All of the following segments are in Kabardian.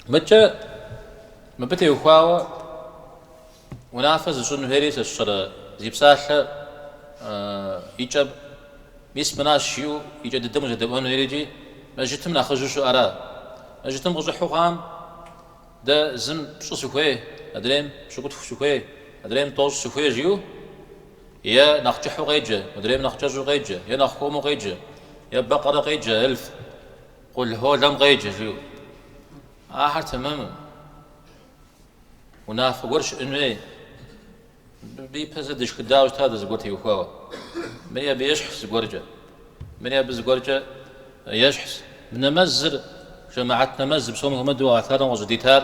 Мыдкӏэ мыбы теухуауэ унафэ зыщӏын хуейри сэ сщӏэрэ, зи псалъэ и кӏэм мис мынащ жиӏэу и кӏэ дыдэм узэдэӏуэн хуейр икӏи мэжьытым нэхъыжьу щыӏэра? Мэжьытым къыщӏыхьу хъуам дэ зым пщӏы сыхуей, адрейм пщыкӏутху сыхуей, адрейм тӏощӏ сыхуей жиӏэу е нэхъ кӏыхьу къеджэ, адрейм нэхъ кӏэщӏу къеджэ, е нэхъ хуэму къеджэ, е бэкъэрэ къеджэ, эльф, Къул Холэм къеджэ, жиӏэу. Ахэр тэмэму. Унафэ гуэр щыӏэн хуей. Мыбы ипэ зэ дышхыдауэ щыта дэ зыгуэр теухуауэ. Мыри абы ещхьщ зыгуэркӏэ. Мыри абы зыгуэркӏэ ещхьщ. Мы нэмэзыр, жэмаӏэт нэмэзыр, псом хуэмыдэу гъэлъэгъуэм къыщӏыдитар,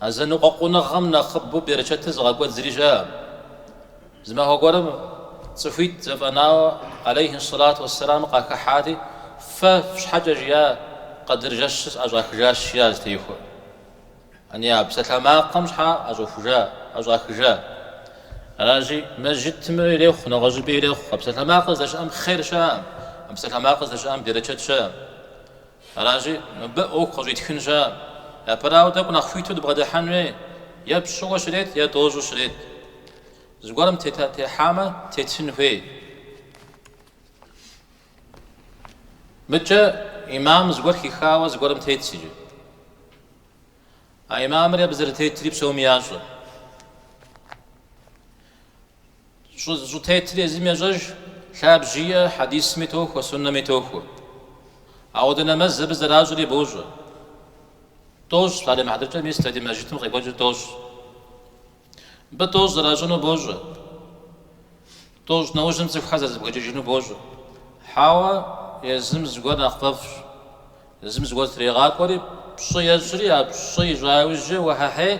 А зэныкъуэкъуныгъэм нэхъыбэу берычэтыр зыгъэкӏуэд зыри щаӏэм. Зы махуэ гуэрым цӏыхуитӏ зэфӏэнауэ алейхьи сэлату уэссэлам къахыхьати, Фэ фщхьэкӏэ жиӏа къэдыр жэщыр сӏэщӏахыжащ, жиӏащ Тейхуэ. Яни, а псалъэмакъым щхьэ ӏэщӏэхужа, ӏэщӏахыжа? Аращи, мэжьытым ирехъу, нэгъуэщӏыпӏи ирехъу. А псалъэмакъыр здэщыӏэм хъер щаӏэм, а псалъэмакъыр здэщыӏэм берычэт щаӏэм. Аращи, мыбы ӏуэху къыщӏитхын щаӏэм. Япэрауэ, тӏэкӏу нэхъ хуиту дыбгъэдыхьэн хуей, е пщӏыуэ щрет, е тӏощӏу щрет. Зыгуэрым дытехьамэ, тетын хуей. Мыдкӏэ имам зыгуэр хихауэ зыгуэрым тетщ иджы. А имамыр абы зэрытетри псоми ящӏэ. Щӏытетыр езым ещӏэж, лъабжь иӏэ, хьэдисми тохуэ, суннэми тохуэ. Ауэдэ нэмэз абы зэращӏри бощӏэ. Тӏощӏ, псалъэм и хьэтыркӏэ мис дэ ди мэжджытым къекӏуэкӏыр тӏощӏ. Мыбы тӏощӏ зэращӏыну бощӏэ. Тӏощӏ нэужьым цӏыхухэр зэрызэбгрыкӏыжыну бощӏэ. Хьэуэ, езым зыгуэр нэхъ фӏэфӏщ. Езым зыгуэр зытрегъакӏуэри, пщӏы ещӏри, а пщӏы ищӏа иужькӏэ уэхьэхьей,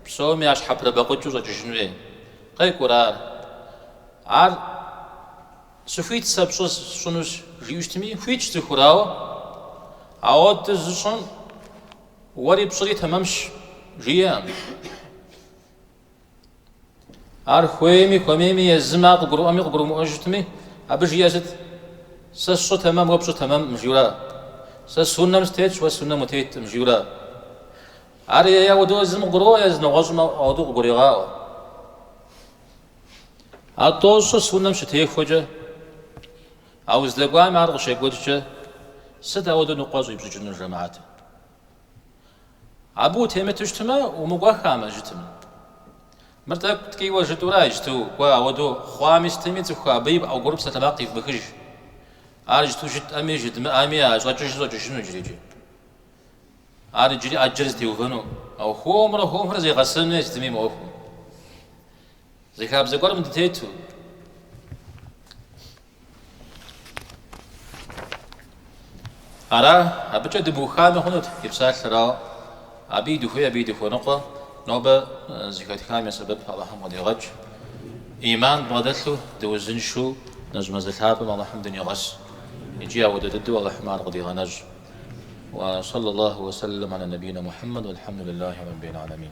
псоми ящхьэпрыбэкъукӏыу щӏэкӏыжын хуей. Къекӏурэ ар? Ар сыхуит сэ пщӏы сщӏынущ, жиӏэу щытми, хуитщ цӏыхур, ауэ ауэдэ зыщӏым уэри пщӏыри тэмэмщ, жиӏэм. Ар хуейми, хуэмейми, езым ар къыгурыӏуэми, къыгурымыӏуэу щытми, абы жиӏэ сыт? Сэ сщӏы тэмэм, уэ пщӏы тэмэмкъым, жиӏэура? Сэ суннэм сытетщ, уэ суннэм утеткъым, жиӏэура? Ар е ауэдэу езым къыгурыӏуэ, е зы нэгъуэщӏым ауэдэу къыгурегъаӏуэ. А тӏощӏыр суннэм щытехуэкӏэ, а уздэкӏуам ар къыщекӏуэкӏкӏэ, сыт ауэдэу ныкъуэ щӏипщӏыкӏынур жэмаӏэтым? Абы утемыту щытмэ, умыкӏуэхамэ, жытым. Мыр тӏэкӏу ткӏийуэ жытӏэурэ иджту, кӏуэ, ауэду хъуами сытми цӏыху абы и пӏэгур псэ тэмакъ къивмыхыж. Ар иджту жытӏэми жытмыӏэми а щӏэкӏыжыр щӏэкӏыжыну иджыри. Ар иджыри ӏэджэр зэтеувэну, ауэ хуэмурэ хуэмурэ зегъэсэну ей сытми мы ӏуэхум. Зы хабзэ гуэрым дытету, ара абыкӏэ дыбухами хъунут и псалъэр ара, абы и дыхуей, абы и дыхуэныкъуэ нобэ зэхэтхам я сэбэб Алыхьым къыдигъэкӏ. Ӏиман дбгъэдэлъу, дыузыншэу нэщӏ мазэ лъапӏэм Алыхьым дынигъэс икӏи ауэдэ дыдэу Алыхьым ар къыдигъэнэщӏ. Уэ сэллаллаху уэ сэллэм алэ нэбийнэ Мухьэммэд, уэлъхьэмдуллахи рэббил алэмин.